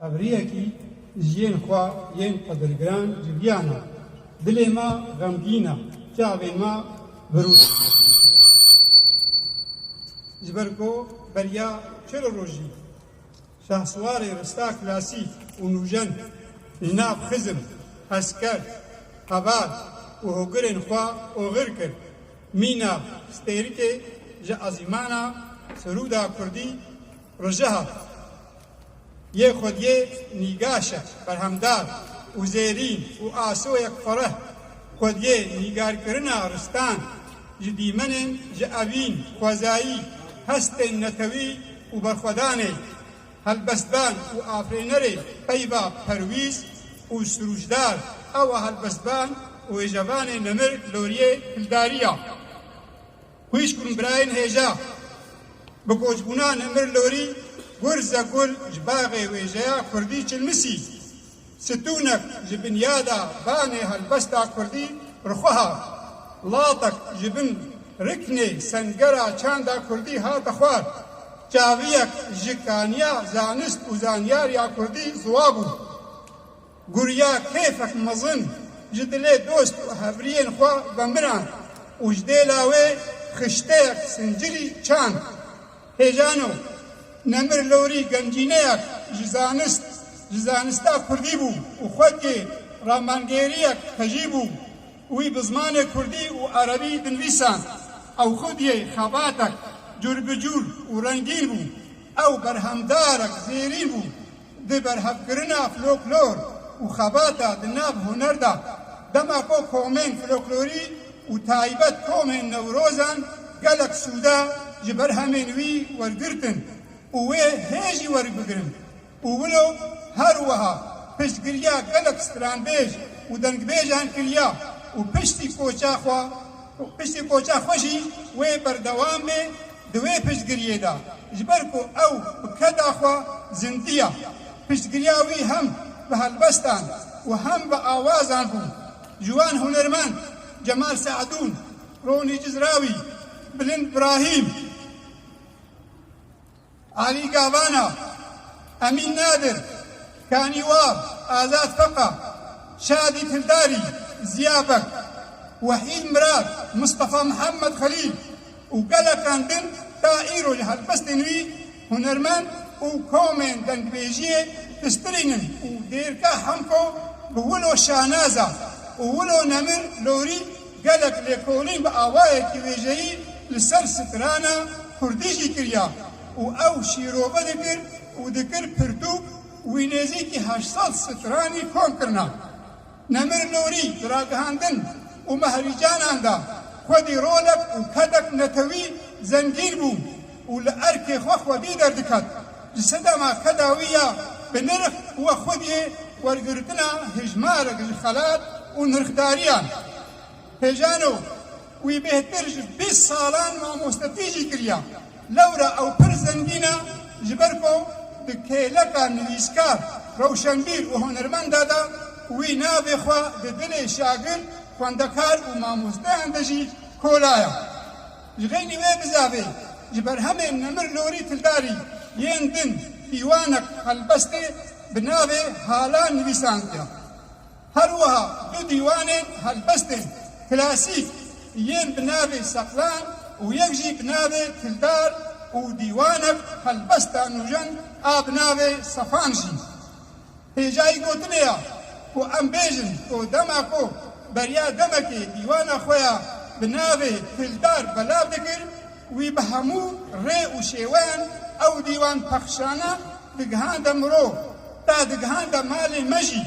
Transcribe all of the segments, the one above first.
Ev riyekî ji yên xwe yên qedirgiran civiyan e. Dilê me xemgîn e, çavên me virûs ji ber ku beriya çil rojî şahswarê rista klasîk û nûjen li nav xizm, hezker, heval û hogirên xwe oxir kir. Mîna stêrikê ji ezîmana sirûda kurdî. Rojeha yê xwediyê nîgaşe berhemdar û zêrîn û asoyek fereh xwediyê nîgarkirina ristan ji dîmenên ji evîn, xwezayî, hestên netewî û berxwedanê helbestdan û afirênerê peyva perwîz û sûrûcdar ew a helbestvan û êjevanê nemir loriyê hildarî ya. Xwîşk û birayên hêja bi koçbûna Nemir Lorî, Gurze Gul ji Baxê Wêjeya Kurdî Çilmisî, Stûnek ji Binyada Banê Helbesta Kurdî rixwe hat, latek ji bin riknê Sengera Çanda Kurdî hate xwar, çaviyek ji kaniya Zanist û Zanyariya Kurdî ziwa bû. Guriya keyfek mezin ji dilê dost û hevriyên xwe vemiran û ji dê lawê xişteyek sincirî çand. Hêjano, nemir lorî gencîneyek ji zanist, ji zanista kurdî bû û xwecê ramangêriyek hejî bû. Wî bi zimanê kurdî û erebî dinivîsand. Ew xwediyê xebatek curbicur û rengîn bû. Ew berhemdarek zêrîn bû. Di berhevkirina floklor û xebata di nav huner de, dema ku komên floklorî û taybet komên Newrozan gelek sûde ji berhemên wî wergirtin û wê hê jî werbigirin û wilo her wiha piştgiriya gelek stranbêj û dengbêjan kiriya û piştî koça xwe piştî koça xwe jî wê berdewam bê Di wê piştgiriyê de ji ber ku ew bi keda xwe zindiya, piştgiriya wî hem bi helbestan û hem bi awazan bû. Ji wan hunermend Cemal Seedûn, Ronî Cizrawî, Bilind Brahîm, Alî Gavana, Emîn Nadir, Kanî Wal, Azad Feqa, Şadî Kildarî, Ziya Beg, Wehîd Mirad, Mistefa Mihemed Xelîl, û gelekan din ta îro li helbestên wî hunermend û komên dengbêjiyê pistirînin û Dêrka Hemko bi wilo şanaza û wilo Nemir Lorî gelek lêkolîn bi awayekî wêjeyî li ser strana kurdî jî kiriya û ew şîrobe dikir û dikir pirtûk wî nêzîkî heşt sed stranî kom kirina. Nemir Nûrî di ragihandin û mehrîcanan de xwedî rolek û kedek netewî zengîn bû û li erkê xwe xwedî derdiket. Ji sedema keda wî ya bi nirx we xwediyê wergirtina hejmarek ji xelat û nirxdariyan. Pejano, wî bêhtir ji bîst salan mamostetî jî kiriya. Lewra ew pir zengîn e ji ber ku di kêleka nivîskar, rewşenbîr û hunermenda de wî navê xwe di dilê şagird, xwendekar û mamosteyan de jî kolaya. Ji xeynî wê bizavê ji berhemên Nemir Lorî Tildarî yên din pîwanek helbestê bi navê Hala nivîsandiya. Her wiha du dîwanên helbestên klasîk yên bi navê Seqlan û yek jî bi navê Kildar û dîwanek Helbesta Nûjen a bi navê Sefan jî pê cayî gotinê ya ku em bêjin ku dema ku Beriya Demekê dîwana xwe ya bi navê Kildar belav dikir, Wî bi hemû rê û şêweyan ew dîwan pexşana, digihande mirov, ta digihande malê me jî.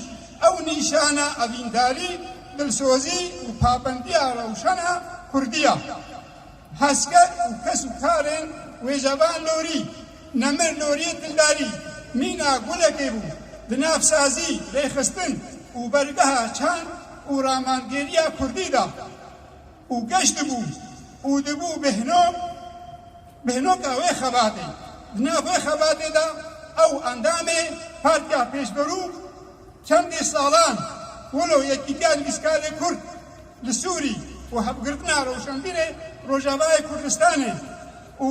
Ew nîşana evîndarî, dilsozî û pabendiya rewşena kurdî ya. Hesker û kes û karên wê jevan lorî. Nemir loriyê dildarî, mîna gulekê bû di nav sazî, rêxistin û bergeha çand û ramandgêriya kurdî de. Û geş dibû û dibû bêhnog, bêhnoka wê xebatê. Di nav wê xebatê de ew endamê Partiya Pêşberû çendî salan wilo Yekîtiya Nivîskarê Kurd li Sûrî û Hevgirtina Rewşenbîrê Rojavayê Kurdistanê û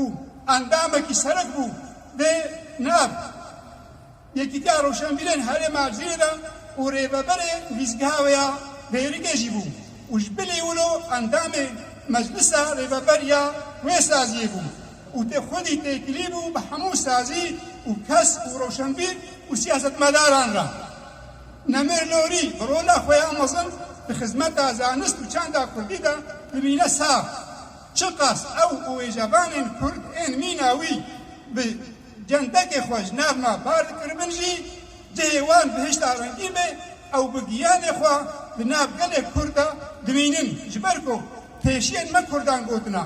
endamekî serik bû dê nav. Yekîtiya Rewşenbîrên Herêma Erzînê de û rêveberê nivîsgeha wê ya Bêrikê jî bû û ji bilî wilo endamê Meclisa Rêveber ya wê saziyê bû û tê xwedî têkilî bû bi hemû sazî û kes û rewşenbîr û siyasetmedaran re. Nemir Lorî bi rola xwe ya mezin di xizmeta zanist û çanda kurdî de dimîne sar. Çiqas ew û wêjevanên kurd ên mîna wî bi. Centekê xwe ji nav ma bar dikiribin jî cihê wan bihişta rengîn be, ew bi giyanê xwe di nav gelê Kurd de dimînin ji ber ku pêşiyên me Kurdan gotina,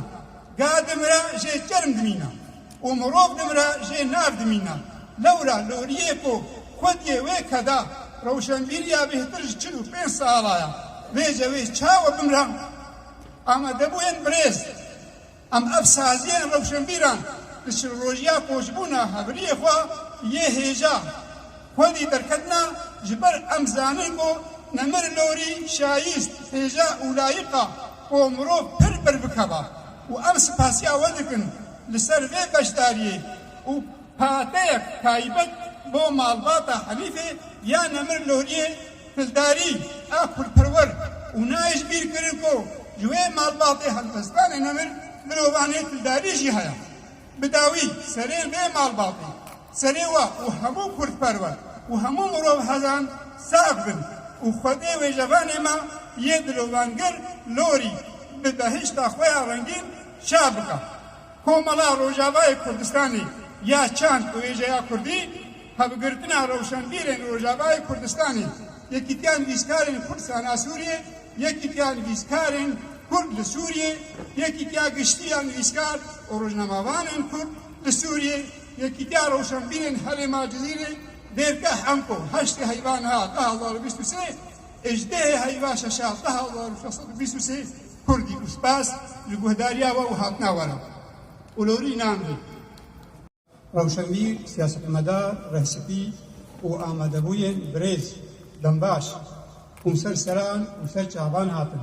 Ga dimire jê çerm dimîna û mirov dimire jê nar dimîna. Lewra loriyê ku Kurdiyê wê keda rewşenbîriya bêhtir ji çil û pênc sala ya vê cewê çawa bimra? Amadebûyên birêz. Em ev saziyên rewşenbîran di çilrojiya koçbûna hevriyê xwe yê hêja xwedî derketina ji ber em zanin ku nemir lorî şayîst, hêja û layîq a ku mirov pir berbikeva û em spasiya we dikin li ser vê beşdariyê û pateyek taybet bo malbata Helîfê ya nemir loriyê. Pildarî, aqilperwer û nayê ji bîr kirin ku ji wê malbatê helwestdanê nemir mirovanê pildarî jî heye. Bi dawî serê vê malbatê, serê we û hemû kurdperwer û hemû mirovhezan sax bin û Xwedê wêjevanê me yê dilovangir lorî bi behişta xwe ya rengîn şa bike. Komela Rojavayê Kurdistanê ya Çand û Wêjeya Kurdî Hevgirtina rewşenbîrên Rojavayê Kurdistanê, Yekîtiya Nivîskarên Kurdisan a Sûriyê, Yekîtiya Nivîskarên Kurd li Sûriyê, Yekîtiya Giştî ya Nivîskar û Rojnamevanên Kurd li Sûriyê, Yekîtiya Rewşenbîrên Herêma Cizîrê, Dêrke Hemko, heştê heyva niha du hezar û bîst û sê ê ji dehê heyva şeşa du hezar û şeş sed û bîst û sê Kurdî û spas li guhdariya we û hatina we re. Olorî nan dê. Rewşenbîr, siyasetmedar, rehsipî û amadebûyên birêz Dembaş, Komser Seran û Ser Çaban hatin.